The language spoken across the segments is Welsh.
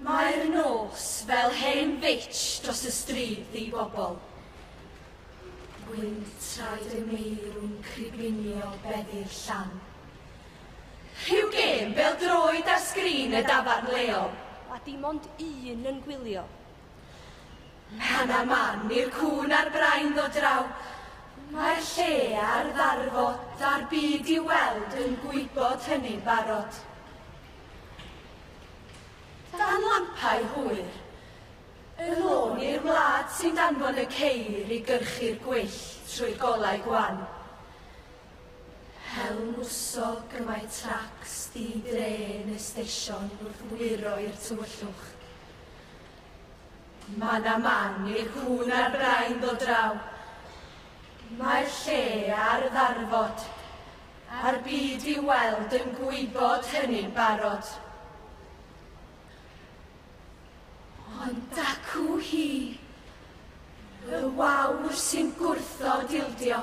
Mae'r nos fel hen fitsh dros y stryd ddi bobl. Gwynt traed y meirw'n cribinio beddi'r llan. Rhyw gêm bêl droed ar sgrin y dafarn leol. A dim ond un yn gwylio. Pan a man i'r cŵn a'r brain ddod draw, mae'r lle a'r ddarfod a'r byd i weld yn gwybod hynny'n barod. Dan lampau hwyr, y lôn i'r wlad sy'n danfon y ceir i gyrchu'r gwyll trwy golau gwan. Hel mwsog y mae tracs di-dre yn y steision wrth wyro i'r tywyllwch. Mae na man i'r cŵn a'r brain ddod draw. Mae'r lle ar ddarfod, a'r byd i'w weld yn gwybod hynny'n barod. Ond dacw hi, y wawr sy'n gwrthod ildio.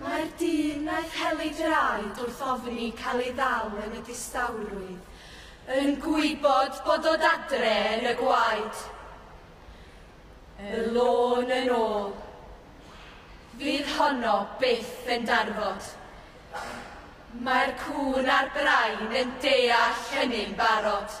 Mae'r dyn wnaeth heli draed wrth ofni cael ei ddal yn y distawrwydd, yn gwybod bod dod adre yn y gwaed. Y lôn yn ôl. Fydd honno byth yn darfod. Mae'r cŵn a'r brain yn deall hynny'n barod.